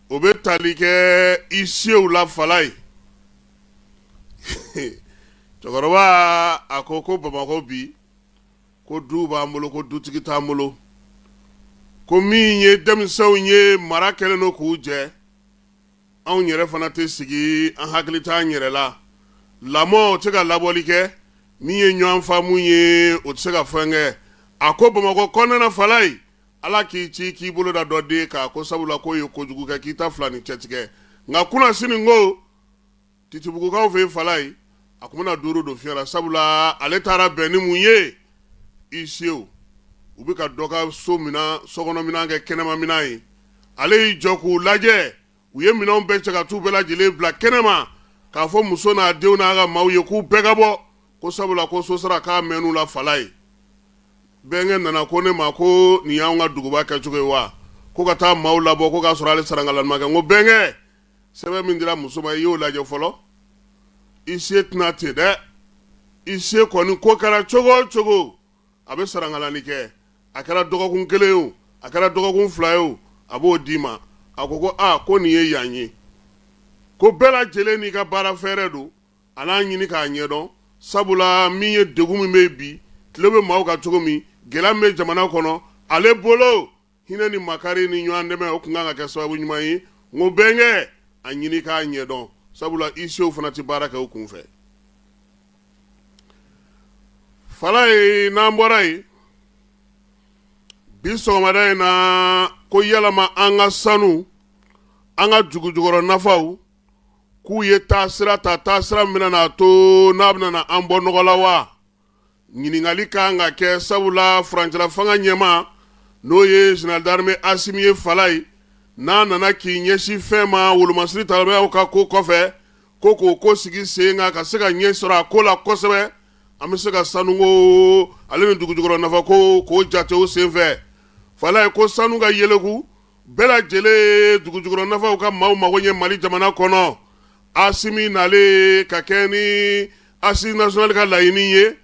o bɛ tali kɛ huissierw la Falayi cɛkɔrɔba a ko ko bamakɔ bi ko du b'an bolo ko dutigi t'an bolo ko min ye denmisɛnw ye mara kɛlen don k'u jɛ anw yɛrɛ fana tɛ sigi an hakili t'an yɛrɛ la lamɔ o tɛ se ka labɔli kɛ min ye ɲɔgɔn faamumu ye o tɛ se ka fɛn kɛ a ko bamakɔ kɔnɔna Falayi ala k'i ci k'i bolo da dɔ den kan ko sabula k'o ye kojugu kɛ k'i ta fila ni cɛ tigɛ nka kunasini ko titibugukaw fɛ Falayi a tun bɛna duuru don fiɲɛ la sabula ale taara bɛn ni mun ye huissierw u bɛ ka dɔ ka so minɛn sokɔnɔminɛn kɛ kɛnɛmaminɛn ye ale y'i jɔ k'u lajɛ u ye minɛnw bɛɛ cɛ ka t'u bɛɛ lajɛlen bila kɛnɛma k'a fɔ muso n'a denw n'a ka maaw ye k'u bɛɛ ka bɔ ko sabula ko sosara k'a mɛnn'u la Falayi bɛnkɛ nana ko ne ma ko nin y'an ka duguba kɛcogo ye wa ko ka taa maaw labɔ ko k'a sɔrɔ ale sarankalani ma kɛ n ko bɛnkɛ sɛbɛn min dira muso ma i y'o lajɛ fɔlɔ huissier tɛ na ten dɛ huissier kɔni ko kɛra cogo cogo a bɛ sarankalani kɛ a kɛra dɔgɔkun kelen ye o a kɛra dɔgɔkun fila ye o a b'o d'i ma a ko ko aa ko nin ye yan ye ko bɛɛ lajɛlen n'i ka baara fɛɛrɛ don a n'a ɲini k'a ɲɛdɔn sabula min ye degun min bɛ bi tile bɛ maaw kan cogo min gɛlɛya min bɛ jamana kɔnɔ ale bolo hinɛ ni makari ni ɲɔgɔn dɛmɛ o tun kan ka kɛ sababu ɲuman ye n ko bɛnkɛ a ɲini k'a ɲɛdɔn sabula huissierw fana tɛ baara kɛ u kun fɛ Falayi n'an bɔra yen bi sɔgɔmada in na ko yalama an ka sanu an ka dugujukɔrɔ nafaw k'u ye taasira ta taasira min bɛna to n'a bɛna an bɔ nɔgɔ la wa ɲininkali ka kan ka kɛ sabula furancɛla fanga ɲɛmaa n'o ye général d'armée Asimi ye Falayi n'a nana k'i ɲɛsin fɛn ma wolomasiri talibɛyaw ka ko kɔfɛ ko k'o ko sigi sen kan ka se ka ɲɛ sɔrɔ a ko la kosɛbɛ an bɛ se ka sanuko ale ni dugujukɔrɔ nafako k'o jate o senfɛ Falayi ko sanu ka yeleku bɛɛ lajɛlen ye dugujukɔrɔ nafaw ka maaw mago ɲɛ Mali jamana kɔnɔ Asimi nalen ka kɛ ni Assises nationales ka laɲini ye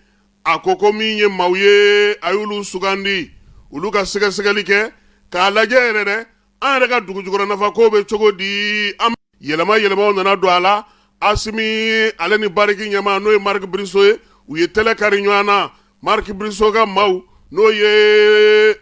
a ko ko min ye maaw ye a y'olu sugandi olu ka sɛgɛsɛgɛli kɛ k'a lajɛ yɛrɛ dɛ an yɛrɛ ka dugujukɔrɔ nafako bɛ cogo di an yɛlɛma yɛlɛmaw nana don a la Asimi ale ni Barrick ɲɛmaa n'o ye Mark Bristow ye u ye tɛlɛ kari ɲɔgɔn na Mark Bristow ka maaw n'o ye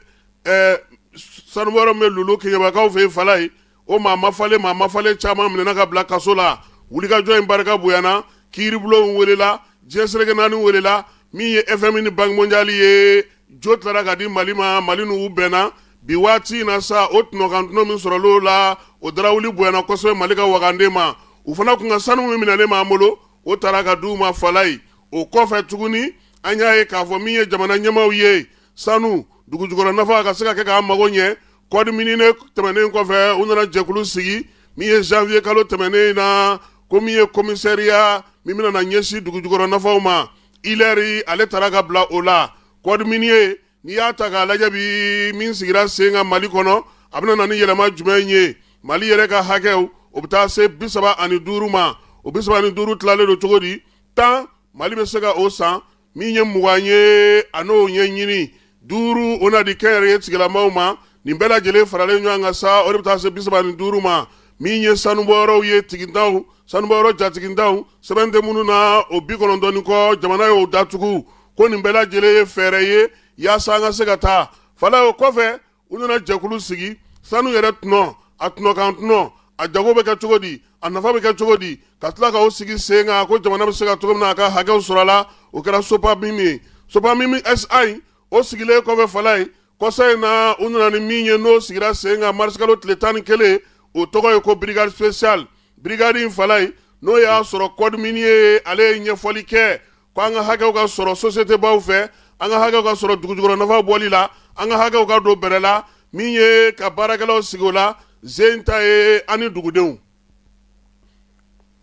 sanubɔyɔrɔ min bɛ Lulu Keɲebakaw fɛ yen Falayi o maa mafalen maa mafalen caman minɛna ka bila kaso la wulikajɔ in barika bonyana kiiribulon welela diɲɛ seleke naani welela min ye FMI ni Banque mondiale ye jo tilara ka di mali ma mali n'u bɛnna bi waati in na sa o tɔnɔkantɔnɔ min sɔrɔl'o la o darawuli bonyana kosɛbɛ mali ka waganden ma u fana kun ka sanu min minɛlen b'an bolo o taara ka di u ma Falaye o kɔfɛ tuguni an y'a ye k'a fɔ min ye jamana ɲɛmaaw ye sanu dugujukɔrɔ nafa ka se ka kɛ k'an mago ɲɛ code minier tɛmɛnen kɔfɛ u nana jɛkulu sigi min ye zanwiyekalo tɛmɛnen in na ko min ye komisariya min bɛna na ɲɛsin dugujukɔrɔ nafaw ma Hilaire ale taara ka bila o la code minier n'i y'a ta k'a lajɛ bi min sigira sen kan mali kɔnɔ a bɛna na ni yɛlɛma jumɛn ye mali yɛrɛ ka hakɛw o bɛ taa se bi saba ani duuru ma o bi saba ni duuru tilalen don cogo di tan mali bɛ se ka o san min ye mugan ye a n'o ɲɛɲini duuru o na di kɛnyɛrɛye tigilamaw ma nin bɛɛ lajɛlen faralen ɲɔgɔn kan sa o de bɛ taa se bi saba ni duuru ma min ye sanubɔyɔrɔw ye tigintan sanubɔyɔrɔ jatigintanw sɛbɛn tɛ minnu na o bi kɔnɔntɔn ni kɔ jamana y'o datugu ko nin bɛɛ lajɛlen ye fɛɛrɛ ye yaasa an ka se ka taa Falaye o kɔfɛ u nana jɛkulu sigi sanu yɛrɛ tɔnɔ a tɔnɔkantɔnɔ a jago bɛ kɛ cogo di a nafa bɛ kɛ cogo di ka tila k'o sigi sen kan ko jamana bɛ se ka cogo min na a ka hakɛw sɔrɔ a la o kɛra SOPAMIM ye SOPAMIM SA o sigilen kɔfɛ Falaye kɔsa in na u nana ni min ye n'o sigira sen kan marisikalo tile tan ni kelen o tɔgɔ ye ko brigade spéciale brigade in Falaye n'o y'a sɔrɔ code minier ale ye ɲɛfɔli kɛ ko an ka hakɛw ka sɔrɔ sosiyetebaw fɛ an ka hakɛw ka sɔrɔ dugujukɔrɔnafa bɔli la an ka hakɛw ka don bɛrɛ la min ye ka baarakɛlaw sigi o la zen ta ye ani dugudenw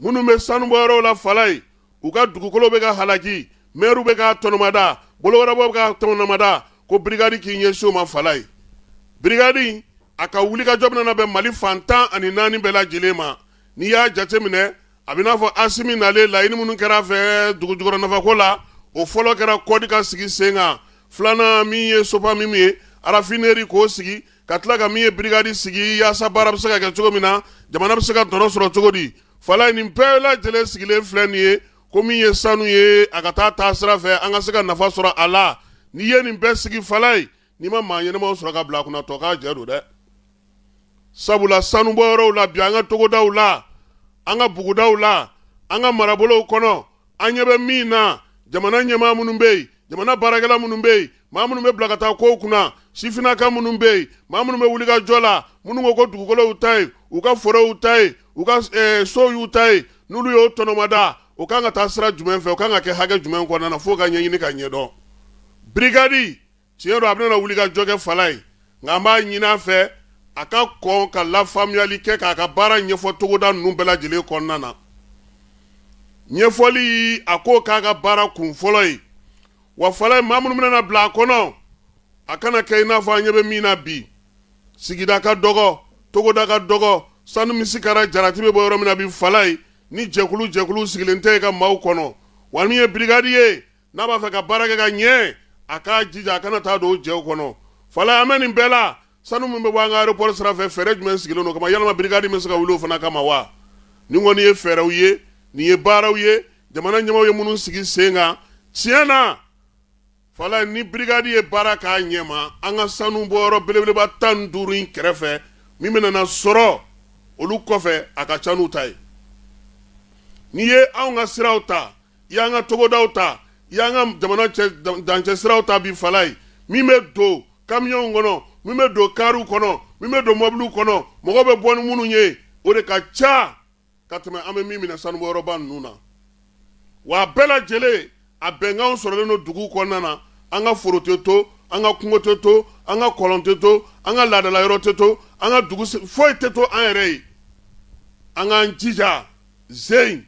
minnu bɛ sanubɔyɔrɔw la Falaye u ka dugukolo bɛ ka halaki mɛriw bɛ ka tɔnɔmada bolowarabaw bɛ ka tɔnɔmada ko birigadi k'i ɲɛsin o ma Falaye birigadi a ka wulikajɔ bɛna bɛn mali fan tan ani naani bɛɛ lajɛlen ma n'i y'a jateminɛ a bɛ n'a fɔ Asimi nalen laɲini minnu kɛra a fɛ dugujukɔrɔ nafako la o fɔlɔ kɛra kɔdi ka sigi sen kan filanan min ye SOPAMIM ye raffinerie k'o sigi ka tila ka min ye birigadi sigi yaasa baara bɛ se ka kɛ cogo min na jamana bɛ se ka tɔnɔ sɔrɔ cogo di Falaye nin bɛɛ lajɛlen sigilen filɛ nin ye ko min ye sanu ye a ka taa taasira fɛ an ka se ka nafa sɔrɔ a la n'i ye nin bɛɛ sigi Falaye n'i ma maa ɲɛnamaw sɔrɔ ka bila a kunna tɔkajɛ don dɛ sabula sanubɔyɔrɔw la bi an ka togodaw la an ka bugudaw la an ka marabolow kɔnɔ an ɲɛ bɛ min na jamana ɲɛmaa minnu bɛ yen jamana baarakɛla minnu bɛ yen maa minnu bɛ bila ka taa kow kunna sifinnaka minnu bɛ yen maa minnu bɛ wulikajɔ la minnu ko ko dugukolo y'u ta ye u ka foro y'u ta ye u ka eh, so y'u ta ye n'olu y'o tɔnɔmada o kan ka taa sira jumɛn fɛ o kan ka kɛ hakɛ jumɛn kɔnɔna na f'o ka ɲɛɲini ka ɲɛdɔn birigadi tiɲɛ don a bɛna wuli ka jɔ kɛ falayi nka an b'a ɲini a fɛ a ka kɔn ka lafaamuyali kɛ k'a ka baara ɲɛfɔ togoda ninnu bɛɛ lajɛlen kɔnɔna na ɲɛfɔli a ko k'a ka baara kun fɔlɔ ye wa falayi maa minnu bɛna bila a kɔnɔ a kana kɛ i n'a fɔ an ɲɛ bɛ min na bi sigida ka dɔgɔ togoda ka dɔgɔ sanu misikala jarati bɛ bɔ yɔrɔ min na bi falayi ni jɛkulu jɛkulu sigilen tɛ yen ka maaw kɔnɔ wa min ye brigade ye n'a b'a fɛ ka baara kɛ ka ɲɛ a k'a jija a kana taa don jɛw kɔnɔ fala an bɛ nin bɛɛ la sanu min bɛ bɔ an ka aéroport sira fɛ fɛɛrɛ jumɛn sigilen don kama yalama brigade bɛ se ka wuli o fana kama wa nin kɔni ye fɛɛrɛw ye nin ye baaraw ye jamana ɲɛmaaw ye minnu sigi sen kan tiɲɛ na falayi ni brigade ye baara k'a ɲɛma an ka sanu bɔyɔrɔ belebeleba tan ni duuru in kɛrɛfɛ min bɛna sɔrɔ olu kɔfɛ a ka ca n'u ta ye n'i ye anw ka siraw ta y' an ka togodaw ta i y' an ka jamana dancɛ siraw ta bi falayi min bɛ don kamiyɔnw kɔnɔ min bɛ don kariw kɔnɔ min bɛ don mɔbiliw kɔnɔ mɔgɔ bɛ bɔ ni minnu ye o de ka ca ka tɛmɛ an bɛ min minɛ sanubɔyɔrɔba ninnu na wa a bɛɛ lajɛlen a bɛnkanw sɔrɔlen don dugu kɔnɔna na an ka foro tɛ to an ka kungo tɛ to an ka kɔlɔn tɛ to an ka laadadala yɔrɔ tɛ to an ka dugu foyi tɛ to an yɛrɛ ye an k'an jija z in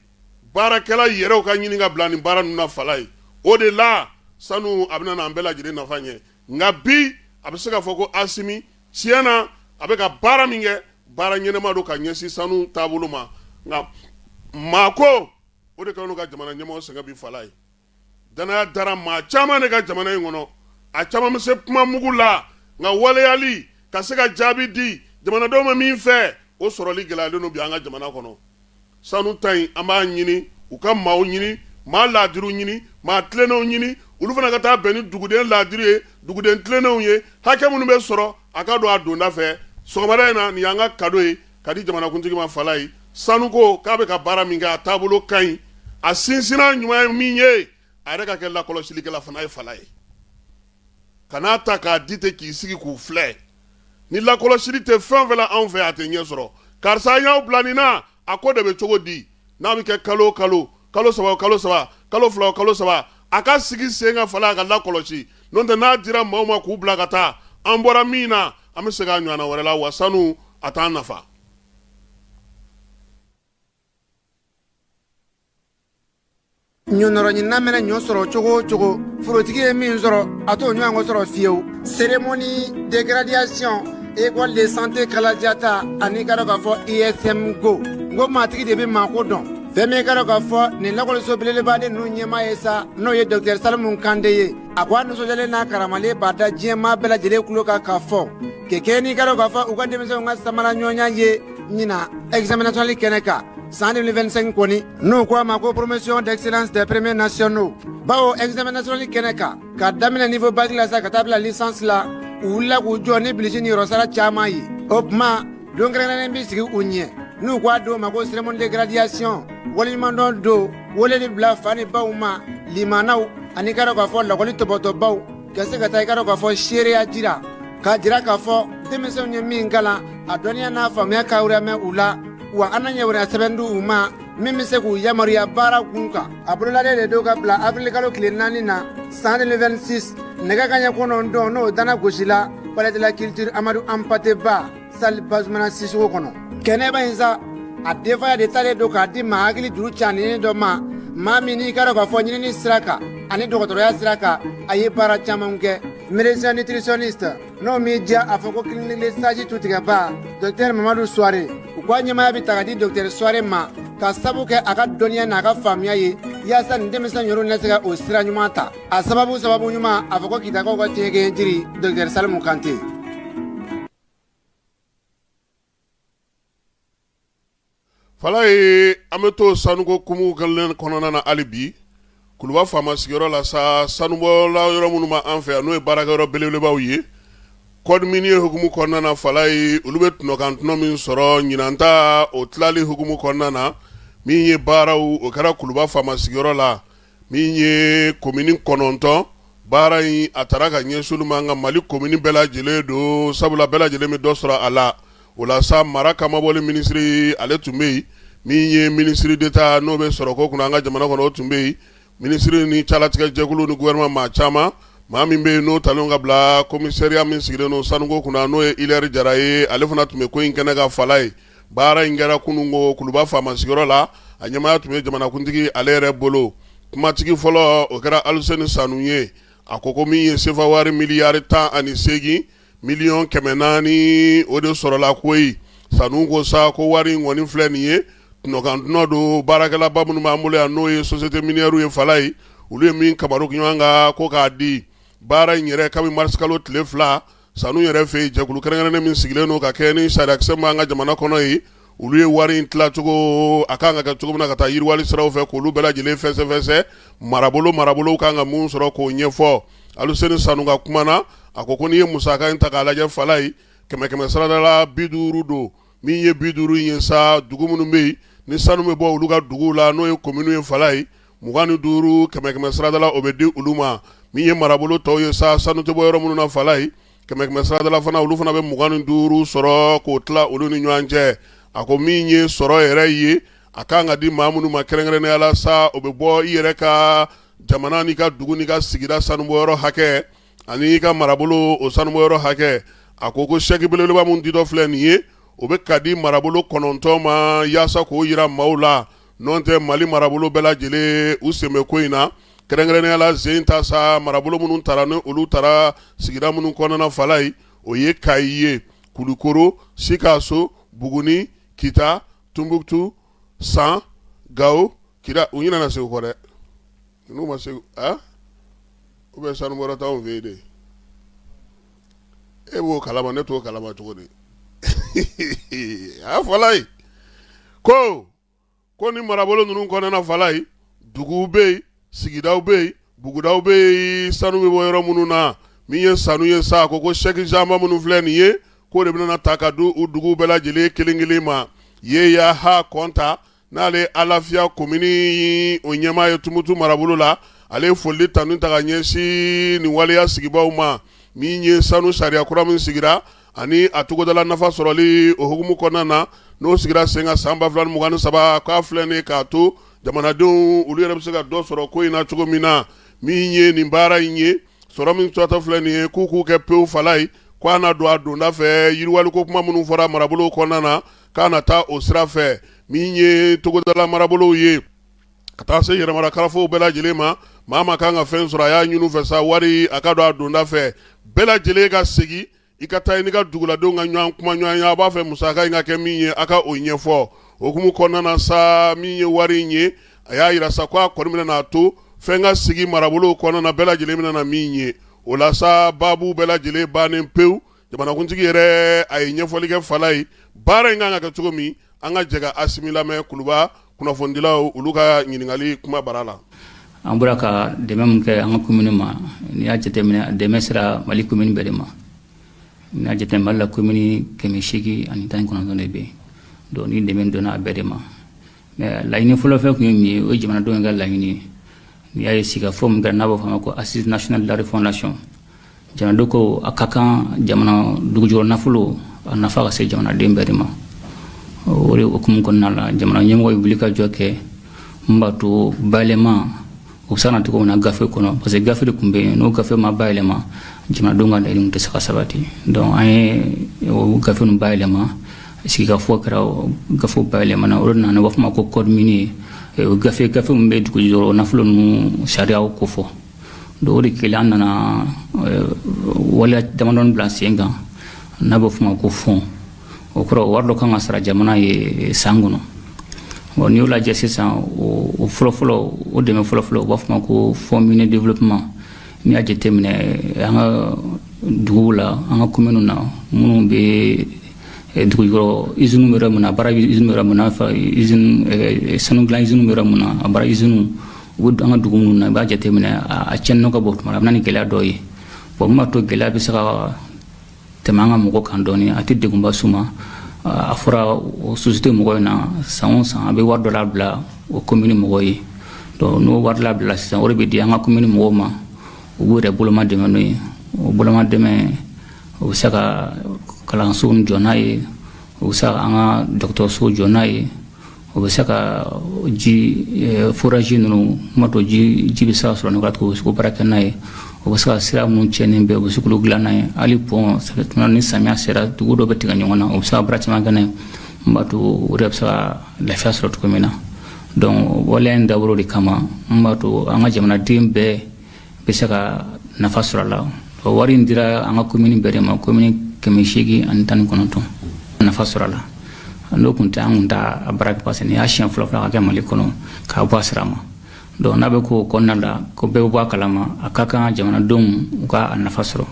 baarakɛla yɛrɛw ka ɲini ka bila nin baara ninnu na falayi o de la sanu a bɛna an bɛɛ lajɛlen nafa ɲɛ nka bi a bɛ se k'a fɔ ko asimi tiɲɛ na a bɛ ka baara min kɛ baara ɲɛnama don ka ɲɛsin sanu taabolo ma nka maako o de k'anw ka jamana ɲɛmɔgɔ sɛgɛn bi falayi Dannaya dara maa caman de ka jamana in kɔnɔ a caman bɛ se kuma mugu la nka waleyali ka se ka jaabi di jamanadenw ma min fɛ o sɔrɔli gɛlɛyalen don bi an ka jamana kɔnɔ sanu ta in an b'a ɲini u ka maaw ɲini maa laadiriw ɲini maa tilennenw ɲini olu fana ka taa bɛn ni duguden laadiri ye duguden tilennenw ye hakɛ minnu bɛ sɔrɔ a ka don a donda fɛ sɔgɔmada in na nin y'an ka kado ye ka di jamanakuntigi ma falayi sanuko k'a bɛ ka baara min kɛ a taabolo ka ɲi a sinsinnan ɲuman ye min ye a yɛrɛ ka kɛ lakɔlɔsilikɛla fana ye falayi kan'a ta k'a di ten k'i sigi k'u filɛ ni lakɔlɔsili tɛ fɛn o fɛn la anw fɛ a tɛ ɲɛ sɔrɔ karisa an y'aw bila nin na a ko de bɛ cogo di n'a bɛ kɛ kalo o kalo kalo saba o kalo saba kalo fila o kalo saba a ka sigi sen kan fala a ka lakɔlɔsi n'o tɛ n'a dira maaw ma k'u bila ka taa an bɔra min na an bɛ segin a ɲɔgɔnna wɛrɛ la wa sanu a t'an nafa ɲɔnɔrɔɲinina mana ɲɔ sɔrɔ cogo o cogo forotigi ye min sɔrɔ a t'o ɲɔgɔn sɔrɔ fiyewu cérémonie de graduation école de santé kalajata ani ka dɔ k'a fɔ ISM ko n ko maatigi de bɛ maako dɔn fɛn min ka dɔ k'a fɔ nin lakɔliso belebeleba ninnu ɲɛmaa ye sa n'o ye docteur salimu kante ye a ko a nisɔndiyalen n'a karamalen b'a da diɲɛmaa bɛɛ lajɛlen tulo kan k'a fɔ kɛkɛ n'i ka dɔn k'a fɔ u ka denmisɛnw ka samara ɲɔgɔnya ye ɲinan examen national kɛnɛ kan san 2025 kɔni n'u ko a ma ko promotion d'excellence des premiers nationaux bawo examen national kɛnɛ kan ka daminɛ niveau bac la sa ka taa bila licence la u wulila k'u jɔ ni bilisi niyɔrɔsara caman ye o tuma don kɛrɛnkɛrɛnnen bɛ sigi u ɲɛ n'u ko a don ma ko cérémonie de graduation waleɲumandɔn don weleli bila fa ni baw ma limanaw ani ka dɔn k'a fɔ lakɔli tɔbɔtɔbaw ka se ka taa i ka dɔn k'a fɔ seereya jira k'a jira k'a fɔ denmisɛnw ye min kalan a dɔnniya n'a faamuya kayɔrɔ mɛn u la wa an na ɲɛ wɛrɛ sɛbɛn di u ma min bɛ se k'u yamaruya baara kun kan a bolodalen de don ka bila abirilkalo tile naani na san 2026 nɛgɛ ka ɲɛ kɔnɔntɔn n'o dana gosila palais de la culture amadu hanpate ba salle bazumana sisoko kɔnɔ kɛnɛba in sa a denfaya de talen don k'a di maa hakili juru caninen dɔ ma maa min n'i ka dɔn k'a fɔ ɲinini sira kan ani dɔgɔtɔrɔya sira kan a ye baara caman kɛ médecin nutritionniste n'o m'i diya a fɔ ko clinique sage tutigɛba docteur mamadu suware u k'a ɲɛmaaya bɛɛ ta k'a di docteur suware ma ka sabu kɛ a ka dɔnniya n'a ka faamuya ye yaasa ni denmisɛn ninnu na se ka o sira ɲuman ta a sababu sababu ɲuman a fɔ ko kitakaw ka tiɲɛkɛ jiri docteur salimu kante Fala ye an bɛ to sanuko hukumu kelen kɔnɔna na hali bi kuluba faama sigiyɔrɔ la sa sanubɔla yɔrɔ minnu b'an fɛ yan n'o ye baarakɛyɔrɔ belebelebaw ye code minier hukumu kɔnɔna na fala ye olu bɛ tɔnɔkantɔnɔ min sɔrɔ ɲinan ta o tilali hukumu kɔnɔna na min ye baaraw o kɛra kuluba faama sigiyɔrɔ la min ye komini kɔnɔntɔn baara in a taara ka ɲɛsin olu ma an ka mali komini bɛɛ lajɛlen don sabula bɛɛ lajɛlen bɛ dɔ sɔrɔ a la o la sa mara kamabɔli minisiri ale tun bɛ yen min ye minisiri d'État n'o bɛ sɔrɔ ko kunna an ka jamana kɔnɔ o tun bɛ yen minisiri ni calatigɛjɛkulu ni gouvernement maa caman maa min bɛ yen n'o talen ka bila komisariya min sigilen don sanuko kunna n'o ye hilaire jara ye ale fana tun bɛ ko in kɛnɛ kan fala ye baara in kɛra kunun ko kuluba faama sigiyɔrɔ la a ɲɛmaaya tun bɛ jamanakuntigi ale yɛrɛ bolo kumatigi fɔlɔ o kɛra aluseni sanu ye a ko ko min ye sefa wari miliyari tan ani seegin miliyɔn kɛmɛ naani o de sɔrɔla koyi sanu ko sa ko wari in kɔni filɛ nin ye tɔnɔkantɔnɔ don baarakɛlaba minnu b'an bolo yan n'o ye sosiyete miniyɛriw ye fala ye olu ye min kamaru ɲɔgɔn kan ko k'a di baara in yɛrɛ kabini marisikalo tile fila sanu yɛrɛ fɛ yen jɛkulu kɛrɛnkɛrɛnnen min sigilen don ka kɛ ni sariyakisɛ b'an ka jamana kɔnɔ ye olu ye wari in tilacogo a kan ka kɛ cogo min na ka taa yiriwali siraw fɛ k'olu bɛɛ lajɛlen fɛsɛfɛsɛ marabolo marabolo kan ka min sɔrɔ k'o ɲɛfɔ Aluseni Sanu ka kuma na a ko ko n'i ye musaka in ta k'a lajɛ fala ye kɛmɛ kɛmɛ sarada la bi duuru don min ye bi duuru in ye sa dugu minnu bɛ yen ni sanu bɛ bɔ olu ka duguw la n'o ye kominiw ye fala ye mugan ni duuru kɛmɛ kɛmɛ siradala o bɛ di olu ma min ye marabolo tɔw ye sa sanu tɛ bɔ yɔrɔ minnu na fala ye kɛmɛ kɛmɛ siradala fana olu fana bɛ mugan ni duuru sɔrɔ k'o tila olu ni ɲɔgɔn cɛ a ko min ye sɔrɔ yɛrɛ ye a kan ka di maa minnu ma kɛrɛnkɛrɛnnenya la sa o bɛ bɔ i yɛrɛ ka jamana n'i ka dugu n'i ka sigida sanubɔyɔrɔ hakɛ ani i ka marabolo o sanubɔyɔrɔ hakɛ a ko ko sɛki belebeleba min ditɔ filɛ nin ye o bɛ ka di marabolo kɔnɔntɔn ma yaasa k'o yira maaw la N'o tɛ mali marabolo bɛɛ lajɛlen u sen bɛ ko in na kɛrɛnkɛrɛnnenya la sen ta sa marabolo minnu taara ni olu taara sigida minnu kɔnɔna fala ye o ye kayi ye kulukoro sikaso buguni kita tumbutu san gawo kidal u ɲinana segu kɔ dɛ n'u ma segu a u bɛ sanubɔyɔrɔ t'aw fɛ yen de e b'o kalama ne t'o kalama cogo di a fala ye ko ko ni marabolo ninnu kɔnɔna fala ye duguw bɛ yen sigidaw bɛ yen bugudaw bɛ yen sanu bɛ bɔ yɔrɔ minnu na min ye sanu ye sa ko ko sɛki janba minnu filɛ nin ye k'o de bɛna ta ka di u dugu bɛɛ lajɛlen kelen kelen ma yeya ha kɔnta n'ale ye alafiya komini o ɲɛmaa ye tumutu marabolo la ale ye foli tanu ta ka ɲɛsin nin waleya sigibaaw ma min ye sanu sariya kura min sigira ani a togodala nafa sɔrɔli o hukumu kɔnɔna na n'o sigira sen kan san ba fila ni mugan ni saba k'a filɛ nin k'a to jamanadenw olu yɛrɛ bɛ se ka dɔ sɔrɔ ko in na cogo min na min ye nin baara in ye sɔrɔ min tatɔ filɛ nin ye k'u k'u kɛ pewu fala ye k'a na don a donda fɛ yiriwali ko kuma minnu fɔra marabolo kɔnɔna na k'a na taa o sira fɛ min ye togodala marabolow ye ka taa se yɛrɛmara karafow bɛɛ lajɛlen ma maa maa kan ka fɛn sɔrɔ a y'a ɲini fɛ sa wari a ka don a donda fɛ bɛɛ lajɛlen ka segin i ka taa i n'i ka duguladenw ka ɲɔgɔn kumaɲɔgɔnya a b'a fɛ musaka in ka kɛ min ye a ka o ɲɛfɔ o hukumu kɔnɔna sa min ye wari in ye a y'a yira sa ko a kɔni bɛna n'a to fɛn ka sigi marabolo kɔnɔna bɛɛ lajɛlen bɛna na min ye o la sa baabu bɛɛ lajɛlen bannen pewu jamanakuntigi yɛrɛ a ye ɲɛfɔli kɛ fala ye baara in kan ka kɛ cogo min an ka jɛ ka asimi lamɛn kuluba kunnafonidilaw olu ka ɲininkali kuma bara la an bɔra ka dɛmɛ min kɛ an ka kominiw ma n'i y'a jateminɛ dɛmɛ sera mali komini bɛɛ de ma n'i y'a jate mali la komini kɛmɛ seegin ani tan ni kɔnɔntɔn de bɛ yen donc ni dɛmɛ donna a bɛɛ de ma laɲini fɔlɔfɔlɔ tun ye min ye o ye jamanadenw ka laɲini ye n'i y'a ye sigikafɔ min kɛra n'a bɛ fɔ a ma ko assise nationale de la refondation jamanadenw ko a ka kan jamana dugujukɔrɔ nafolo a nafa ka se jamanaden bɛɛ de ma o de hukumu kɔnɔna la jamana ɲɛmɔgɔ ye wuli ka jɔ kɛ min b'a to bayɛlɛma u bɛ se na cogo min na gafe kɔnɔ parce que gafe de tun bɛ yen n'o gafe ma bayɛlɛma jamanadenw ka laɲiniw tɛ se ka sabati donc an ye o gafe ninnu bayɛlɛma sigikafɔ kɛra gafe bayɛlɛmana o de nana u b'a fɔ ma ko code minier o gafe gafe min bɛ dugujukɔrɔ nafolo ninnu sariyaw kofɔ donc o de kɛlen an nana waleya damadɔni bila sen kan n'a bɛ f'o ma ko fond o kɔrɔ wari dɔ kan ka sara jamana ye san kɔnɔ bon n'i y'o lajɛ sisan o fɔlɔfɔlɔ o dɛmɛ fɔlɔfɔlɔ u b'a fɔ ma ko fond minier développement n'i y'a jateminɛ an ka duguw la an ka kominiw na minnu bɛ eh, dugu yɔrɔ iziniw bɛ yɔrɔ min na a baara bɛ iziniw bɛ yɔrɔ min na izini eh, sanu dilan iziniw bɛ yɔrɔ min na a baara iziniw u bɛ an ka dugu minnu na i b'a jateminɛ a tiɲɛni ka bon tuma a bɛ na ni gɛlɛya dɔw ye bon min b'a to gɛlɛya bɛ se ka tɛmɛ an ka mɔgɔ kan dɔɔni a tɛ degunba s'u ma a fɔra o société mɔgɔ in na san o san a bɛ wari dɔ labila o commune mɔgɔ ye donc n'o wari labilala sisan o de bɛ di an ka commune mɔgɔw ma u b'u yɛrɛ boloma dɛmɛ n'o ye o boloma dɛmɛ o bɛ se ka kalanso jɔ n'a ye o bɛ se ka an ka dɔgɔtɔrɔso jɔ n'a ye o bɛ se ka ji eh, foraji ninnu ko n b'a to ji ji bɛ se ka sɔrɔ nɔgɔya cogo bɛ se k'o baara kɛ n'a ye o bɛ se ka sira minnu cɛnnen bɛ o bɛ se k'olu dilan n'a ye hali pɔn tuma ni samiya sera dugu dɔ bɛ tigɛ ɲɔgɔn na o bɛ se ka baara caman kɛ n'a ye n b'a to o de bɛ se ka lafiya sɔrɔ cogo min na donc waleya in dabɔra o de kama n b'a to an ka jamanaden bɛɛ bɛ se ka nafa sɔrɔ a la o wari in dira an ka komini bɛɛ de ma komini kɛmɛ seegin ani tan ni kɔnɔntɔn nafa sɔrɔ a la n'o tun tɛ an tun t'a a baara kɛ parce que nin y'a siɲɛ fɔlɔ fɔlɔ ka kɛ mali kɔnɔ k'a bɔ a sira ma donc n'a bɛ k'o kɔnɔna la ko bɛɛ bɛ bɔ a kalama a ka kan jamanadenw u ka a nafa sɔrɔ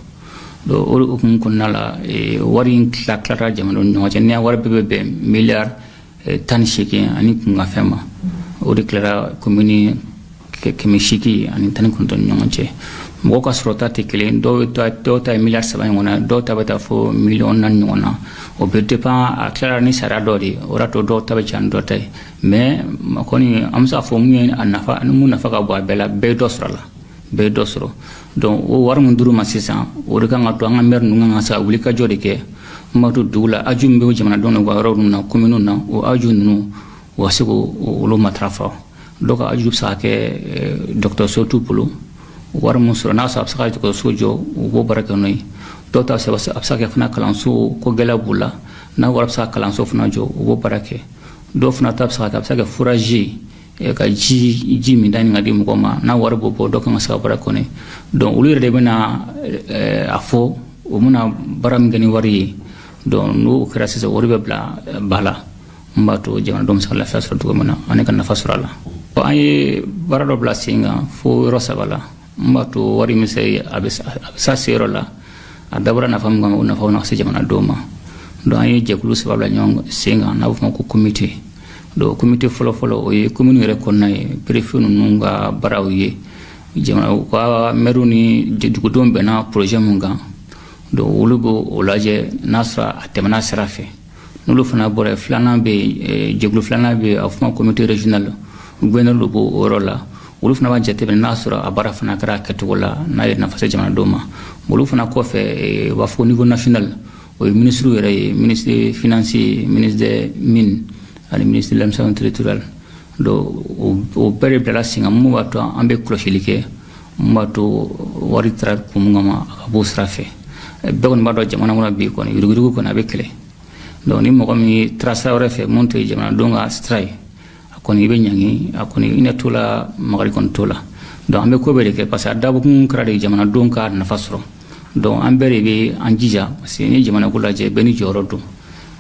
donc o hukumu kɔnɔna la wari in tila tilara jamanadenw ni ɲɔgɔn cɛ ni wari bɛɛ bɛ bɛn miliyari eh, tan ni seegin ani kunkanfɛn ma o de tilara komini kɛmɛ seegin ani tan ni kɔnɔntɔn ni ɲɔgɔn cɛ mɔgɔ ka sɔrɔta tɛ kelen dɔw ta dɔw ta ye miliyari saba ɲɔgɔn na dɔw ta bɛ taa fo miliyɔn naani ɲɔgɔn na o bɛ dépend a tilara ni sariya dɔ de ye o y'a to dɔw ta bɛ ca ni dɔ ta ye mais kɔni an bɛ se k'a fɔ min ye a nafa min nafa ka bon a bɛɛ la bɛɛ ye dɔ sɔrɔ a la bɛɛ dɔ sɔrɔ donc o wari min dir'u ma sisan o de kan ka to an ka mɛri ninnu kan ka se ka wulikajɔ de kɛ n b'a to dugu la haju min bɛ jamanadenw na u ka yɔrɔ ninnu na kominiw na o haju ninnu u ka se k'olu matarafa dɔw ka haju bɛ se ka kɛ eh, dɔgɔtɔrɔso t'u bolo wari min sɔrɔ n'a sɔrɔ a bɛ se ka dɔgɔtɔrɔso jɔ u b'o baara kɛ n'o ye dɔw ta a bɛ se ka kɛ fana kalanso ko gɛlɛya b'u la n'a wari bɛ se ka kalanso fana jɔ u b'o baara kɛ dɔw fana ta bɛ se ka kɛ a bɛ se ka kɛ foraji ye ka ji ji minta ɲini ka di mɔgɔ ma n'a wari b'o bɔ dɔ kan ka se ka baara kɔni dɔn olu yɛrɛ de bɛna a fɔ u bɛna baara min kɛ ni wari ye donc n'o kɛra sisan wari bɛ bila ba la n b'a to jamanadenw bɛ se ka lafiya sɔrɔ cogo min na ani ka nafa sɔrɔ a la an ye baara dɔ bila sen kan fo yɔrɔ saba la n b'a to wari min se a bɛ se a seyɔrɔ la a dabɔra nafa min kama o nafa na se jamanadenw ma donc an ye jɛkulu saba bila ɲɔgɔn sen kan n'a bɛ fɔ ma ko komite donc komite fɔlɔfɔlɔ o ye komini yɛrɛ kɔnɔna ye perefe ninnu ka baaraw ye jamana u ka mɛriw ni dugudenw bɛnna projet min kan donc olu b'o o lajɛ n'a sɔrɔ a tɛmɛna sira fɛ n'olu fana bɔra yen filanan bɛ yen eh, jɛkulu filanan bɛ yen a fɔ comité régional gouverneur de b'o yɔrɔ la olu fana b'a jateminɛ n'a sɔrɔ a baara fana kɛra kɛcogo la n'a ye nafa se jamanadenw ma olu fana kɔfɛ eh, u b'a fɔ ko niveau national o ye minisiriw yɛrɛ ye ministre des finances ministre des mines ani ministre de l'administration territoriale donc o bɛɛ de bilala sen kan mun b'a to an bɛ kɔlɔsili kɛ n b'a to wari tara kun min kama a ka b'o sira fɛ bɛɛ kɔni b'a dɔn jamana kɔnɔ bi kɔni yuruguyurugu kɔni a bɛ kɛlɛ donc ni mɔgɔ min taara sira wɛrɛ fɛ min tɛ jamanadenw ka sira ye a kɔni i bɛ ɲangi a kɔni hinɛ t'o la makari kɔni t'o la donc an bɛ ko bɛɛ de kɛ parce que a dabɔkun kɛra de jamanadenw ka nafa sɔrɔ donc an bɛɛ de bɛ an jija parce que ni jamana ko lajɛ bɛɛ n'i jɔyɔrɔ don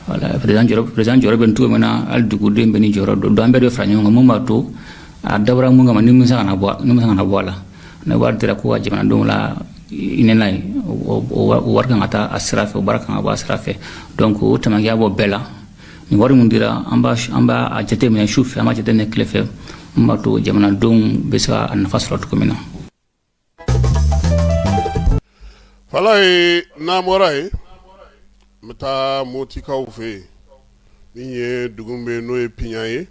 voilà président jɔyɔrɔ bɛ yen cogo min na hali duguden bɛɛ n'i jɔyɔrɔ don donc an bɛɛ de fara ɲɔgɔn kan mun b'a to a dabɔra mun kama ni min se kana bɔ min se kana bɔ a la ni wari dira ko ka jamanadenw lahinɛ n'a ye wari kan ka taa a sira fɛ o baara kan ka bɔ a sira fɛ donc o tamakiya bɔ bɛɛ la nin wari min dira an b'a an b'a a jateminɛ su fɛ an b'a jateminɛ tile fɛ mun b'a to jamanadenw bɛ se ka a nafa sɔrɔ cogo min na fala ye n'an bɔra yen n bɛ taa Motikaw fɛ yen min ye dugu bɛ n'o ye Piɲa ye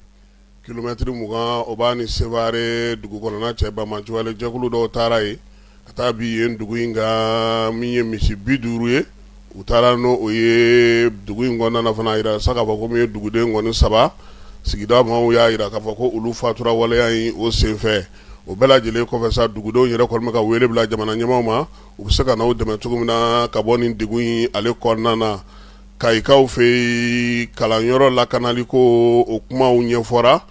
kilomɛtiri mugan o b'a ni Sevare dugu kɔnɔna cɛ banbaanciwale jɛkulu dɔw taara yen ka taa bin yen dugu in kan min ye misi bi duuru ye u taara n'o ye dugu in kɔnɔna fana a jira sa k'a fɔ ko min ye duguden kɔni saba sigida maaw y'a jira k'a fɔ ko olu fatura waleya in o senfɛ o bɛɛ lajɛlen kɔfɛ sa dugudenw yɛrɛ kɔni bɛ ka wele bila jamana ɲɛmaaw ma u bɛ se ka na u dɛmɛ cogo min na ka bɔ nin degun in ale kɔnɔna na Kayikaw fɛ yen kalanyɔrɔ lakanali ko o kumaw ɲɛfɔra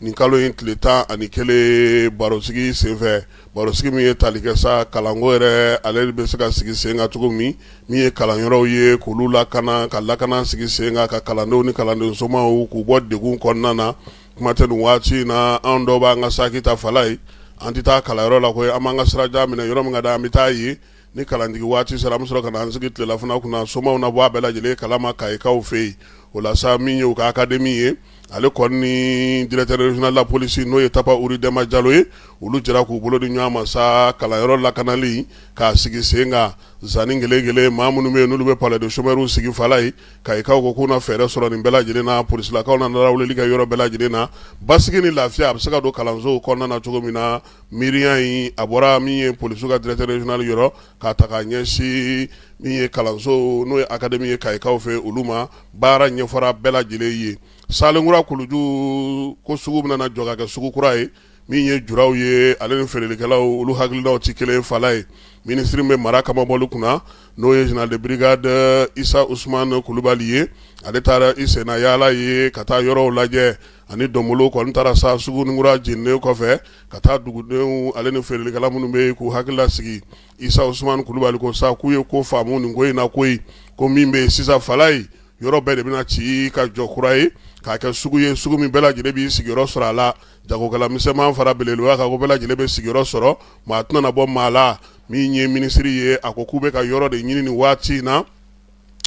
nin kalo in tile tan ani kelen barosigi senfɛ barosigi min ye tali kɛ sa kalanko yɛrɛ ale bɛ se ka sigi sen kan cogo min min ye kalanyɔrɔw ye k'olu lakana ka lakana sigi sen kan ka kalandenw ni kalandensomaaw k'u bɔ degun kɔnɔna na kuma tɛ nin waati in na an dɔw b'an ka saki ta fala ye an tɛ taa kalanyɔrɔ la koyi an b'an ka sira jan minɛ yɔrɔ min ka da an bɛ taa yen ni kalanjigi waati sera an bɛ sɔrɔ ka na an sigi tilelafana kunna somaw na bɔ a bɛɛ lajɛlen kalama kayikaw fɛ yen o la sa min ye u ka akademi ye ale kɔni ni directeur régional de la police n'o ye Tapa Wuri Dɛnba Jalo ye olu jɛra k'u bolo di ɲɔgɔn ma sa kalanyɔrɔ lakanali k'a sigi sen kan zanni gele-gele maa minnu bɛ yen n'olu bɛ palais de chômeurs sigi fala ye kayikaw ko k'u na fɛɛrɛ sɔrɔ nin bɛɛ lajɛlen na polisilakaw na lawulili kɛ yɔrɔ bɛɛ lajɛlen na basigi ni lafiya a bɛ se ka don kalansow kɔnɔna na cogo min na miiriya in a bɔra min ye polisiw ka directeur régional yɔrɔ ka taa ɲɛsin min ye kalanso n'o ye akademi ye kayikaw fɛ olu ma baara ɲɛfɔra bɛɛ lajɛlen ye salenkura kuluju ko sugu bɛna na jɔ ka kɛ sugu kura ye min ye juraw ye ale ni feerelikɛlaw olu hakililaw tɛ kelen fala ye minisiri bɛ mara kamabɔli kunna n'o ye général de brigade isa usumani kulubali ye ale taara i senna yaala ye ka taa yɔrɔw lajɛ ani donbolo kɔni taara sa sugunikura jeninen kɔfɛ ka taa dugudenw ale ni feerelikɛla minnu bɛ yen k'u hakili lasigi isa usumani kulubali ko sa k'u ye ko faamu nin ko in na koyi ko min bɛ yen sisan fala ye yɔrɔ bɛɛ de bɛna ci ka jɔ kura ye k'a kɛ sugu ye sugu min bɛɛ lajɛlen b'i sigiyɔrɔ sɔrɔ a la jagokɛla misɛnman fara belebeleba kan, o bɛɛ lajɛlen bɛ sigiyɔrɔ sɔrɔ, maa tɛna na bɔ maa la min ye minisiri ye, a ko k'u bɛ ka yɔrɔ de ɲini nin waati in na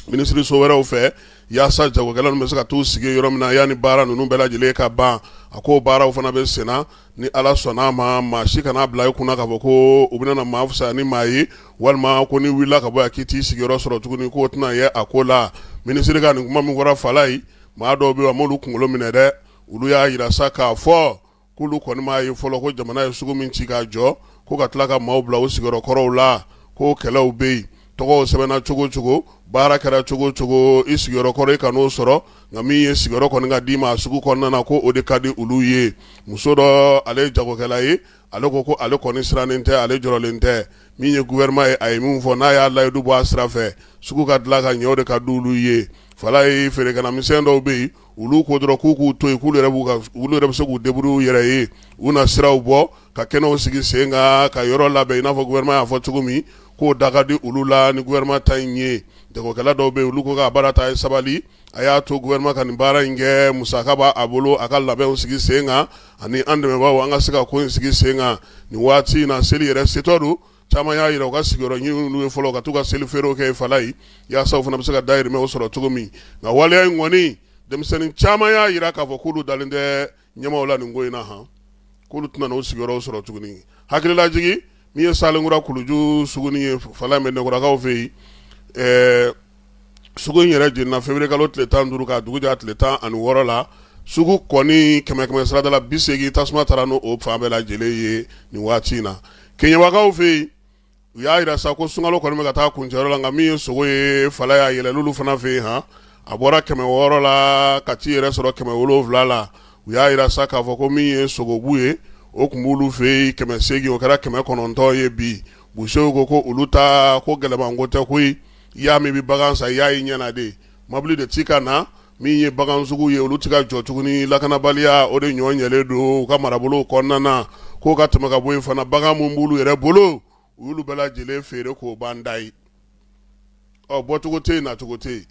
minisiriso wɛrɛw fɛ yaasa jagokɛla ninnu bɛ se ka t'u sigi yɔrɔ min na yanni baara ninnu bɛɛ lajɛlen ka ban a ko baaraw fana bɛ senna ni ala sɔnn'a ma maa si kan'a bila i kun na k'a fɔ ko u bɛna maa fisaya ni maa ye walima ko n'i wulila ka bɔ yan k'i t'i sigiyɔrɔ sɔrɔ tuguni k'o tɛna ye a ko la minisiri ka nin kuma min fɔra fala ye maa dɔw bɛ yen a m'olu kunkolo minɛ dɛ olu y'a jira sa k'a fɔ k'olu kɔni m'a ye fɔlɔ ko jamana ye sugu min ci k'a jɔ ko ka tila ka maaw bila u sigiyɔrɔ kɔrɔw la ko kɛlɛw bɛ yen tɔgɔw sɛbɛnna cogo o cogo baara kɛra cogo o cogo i sigiyɔrɔ kɔrɔ i kan'o sɔrɔ nka min ye sigiyɔrɔ kɔni ka d'i ma a sugu kɔnɔna na ko o de ka di olu ye muso dɔ ale ye jagokɛla ye ale ko ko ale kɔni sirannen tɛ ale jɔrɔlen tɛ min ye gouvernement ye a ye min fɔ n'a y'a layidu bɔ a sira fɛ sugu ka dilan ka ɲɛ o de ka di olu ye fala ye feerekɛla misɛn dɔw bɛ yen olu ko dɔrɔn k'u k'u to yen k'olu yɛrɛ bɛ se k'u débrouiller u yɛrɛ ye u na siraw bɔ ka kɛnɛw sigi sen kan ka yɔrɔ labɛn i n'a fɔ gouvernement y'a fɔ cogo min k'o da ka di olu la ni gouvernement ta in ye jagokɛla dɔw bɛ yen olu ko k'a baara ta a ye sabali a y'a to gouvernement ka nin baara in kɛ musaka b'a bolo a ka labɛnw sigi sen kan ani an dɛmɛbaaw an ka se ka ko in sigi sen kan nin waati in na seli yɛrɛ setɔ don caman y'a jira u ka sigiyɔrɔ ɲini u ye fɔlɔ ka t'u ka seli feerew kɛ fala ye yaasa u fana bɛ se ka dahirimɛw sɔrɔ cogo min nka waleya in kɔni denmisɛnnin caman y'a jira k'a fɔ k'olu dalen tɛ ɲɛmaaw la nin ko in na han k'olu tɛna n'u sigiyɔrɔw sɔrɔ tuguni hakililajigi min ye salenkura kuluju suguni ye fala in bɛ nɛgɛkɔrɔkaw fɛ yen ɛɛ sugu in yɛrɛ jenina février kalo tile tan ni duuru k'a dugu jɛ tile tan ani wɔɔrɔ la sugu kɔni kɛmɛ kɛmɛ sarada la bi segin tasuma taara n' o fan bɛɛ lajɛlen ye nin waati in na keɲɛbakaw fɛ yen u y'a jira sa ko sunkalo kɔni bɛ ka taa kuncɛyɔrɔ la nka min ye sogo ye Falayi a yɛlɛlen olu fana fɛ yen han a bɔra kɛmɛ wɔɔrɔ la ka t'i yɛrɛ sɔrɔ kɛmɛ wolonwula la u y'a jira sa k'a fɔ ko min ye sogobu ye o tun b'olu fɛ yen kɛmɛ segin o kɛra kɛmɛ kɔnɔntɔn ye bi busew ko ko olu ta ko gɛlɛman ko tɛ koyi i y'a min i bɛ bagan san i y'a ye ɲɛna de mɔbili de ti ka na min ye bagan sugu ye olu tɛ ka jɔ tuguni lakanabaliya o de ɲɔgɔn ɲɛlen don u ka marabolo kɔnɔna na k'u ka tɛmɛ ka bɔ yen fana bagan minnu b'olu yɛrɛ bolo u y'olu bɛɛ lajɛlen feere k'o ban da ye ɔ bɔcogo tɛ yen nacogo tɛ yen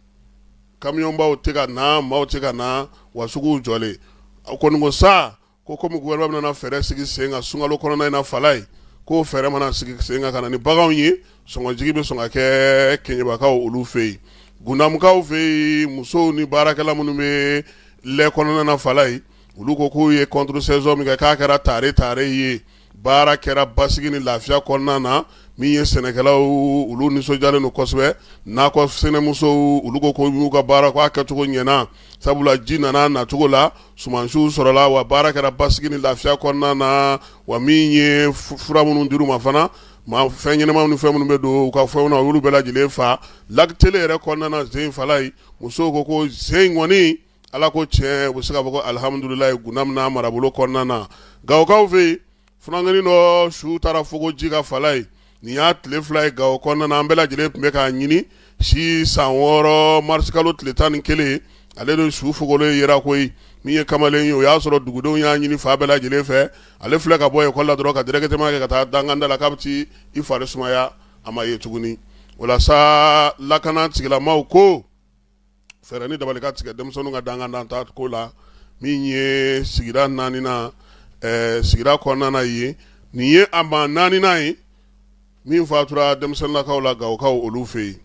kamiyɔnbaw tɛ ka na maaw tɛ ka na wa suguw jɔlen a kɔni ko sa Ko kɔmi gouvernement nana fɛɛrɛ sigi sen kan sunkalo kɔnɔna in na Falayi k'o fɛɛrɛ mana sigi sen kan ka na ni baganw ye sɔngɔjigi bɛ sɔn ka kɛ keɲɛbakaw olu fɛ yen gundamukaw fɛ yen musow ni baarakɛla minnu bɛ lɛ kɔnɔna na Falayi olu ko k'u ye contre saison min kɛ k'a kɛra tare tare ye baara kɛra basigi ni lafiya kɔnɔna na min ye sɛnɛkɛlaw olu nisɔndiyalen don kosɛbɛ nakɔsɛnɛmusow olu ko k'u y'u ka baara k'a kɛcogo ɲɛna sabula ji nana nacogo la sumansiw sɔrɔla wa baara kɛra basigi ni lafiya kɔnɔna na wa min ye fura minnu dir'u ma fana maa fɛn ɲɛnama ni fɛn minnu bɛ don u ka fɛnw na olu bɛɛ lajɛlen fa Lac Télé yɛrɛ kɔnɔna na zen Falayi musow ko ko zen kɔni Ala ko tiɲɛ u bɛ se k'a fɔ alihamdulilayi gundamu n'a marabolo kɔnɔna na gawokaw fɛ yen funankɛnin dɔ su taara fogo ji kan Falayi nin y'a tile fila ye gawo kɔnɔna na an bɛɛ lajɛlen tun bɛ k'a ɲini si san wɔɔrɔ marisikalo tile tan ni kelen ale de su fogolen yera koyi min ye kamalen ye o y'a sɔrɔ dugudenw y'a ɲini fan bɛɛ lajɛlen fɛ ale filɛ ka bɔ ekɔli la dɔrɔn ka directement kɛ ka taa danganda la k'a bɛ t'i fari sumaya a ma ye tuguni o la sa lakana tigilamaw ko fɛɛrɛ ni dabali ka tigɛ denmisɛnninw ka danganda taa ko la min ye sigida naaninan ɛɛ sigida kɔnɔna na yen nin ye a maa naaninan ye min fatura denmisɛnninlakaw la gawokaw olu fɛ yen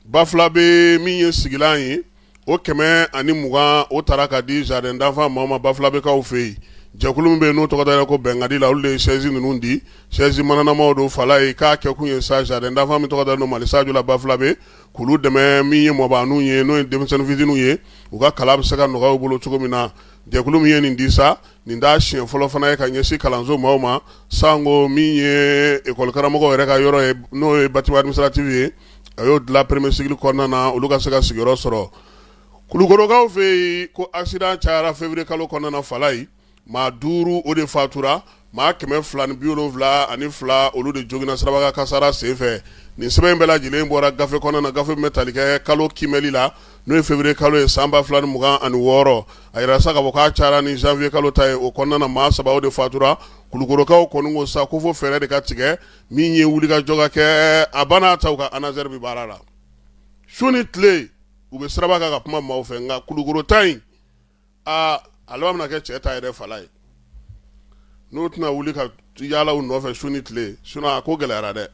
bafulabɛ min ye sigilan ye o kɛmɛ ani mugan o tara ka di jardin d'enfants maaw ma bafulabɛkaw fɛ yen jɛkulu min bɛ yen n'o tɔgɔ dara ko bɛnkadi la olu de ye chaise ninnu di chaise mananamaw don Falayi k'a kɛkun ye sa jardin d'enfants min tɔgɔ dalen don mali sajo la bafulabɛ K'olu dɛmɛ min ye mɔbaninw ye n'o ye denmisɛnnin fitiniw ye u ka kalan bɛ se ka nɔgɔya u bolo cogo min na jɛkulu min ye nin di sa nin t'a siɲɛ fɔlɔ fana ye ka ɲɛsin kalanso maaw ma sanko min ye ekɔli karamɔgɔw yɛrɛ ka yɔrɔ ye n'o ye bâtiment administratif ye a y'o dilan premier cycle kɔnɔna na olu ka se ka sigiyɔrɔ sɔrɔ kulukorokaw fɛ yen ko accident cayara février kalo kɔnɔna na Falayi maa duuru o de fatura maa kɛmɛ fila ni bi wolonwula ani fila olu de joginna siraba kasara senfɛ nin sɛbɛn in bɛɛ lajɛlen bɔra gafe kɔnɔna na gafe min bɛ tali kɛ kalo kimɛli la n'o ye février kalo ye san ba fila ni mugan ani wɔɔrɔ a yɛrɛ sa ka fɔ k'a cayara ni janvier kalo ta ye o kɔnɔna na maa saba de fatura kulukorokaw kɔni ko sa ko fo fɛɛrɛ de ka tigɛ min ye wulikajɔ ka kɛ a banna ta ka ANASER bɛ baara la su ni tile u bɛ siraba kan ka kuma maaw fɛ nka kulukoro ta in aa a laban bɛna kɛ cɛ ta yɛrɛ Falaye n'o tɛna wuli ka yaala u nɔfɛ su ni tile sinon a ko gɛlɛyara dɛ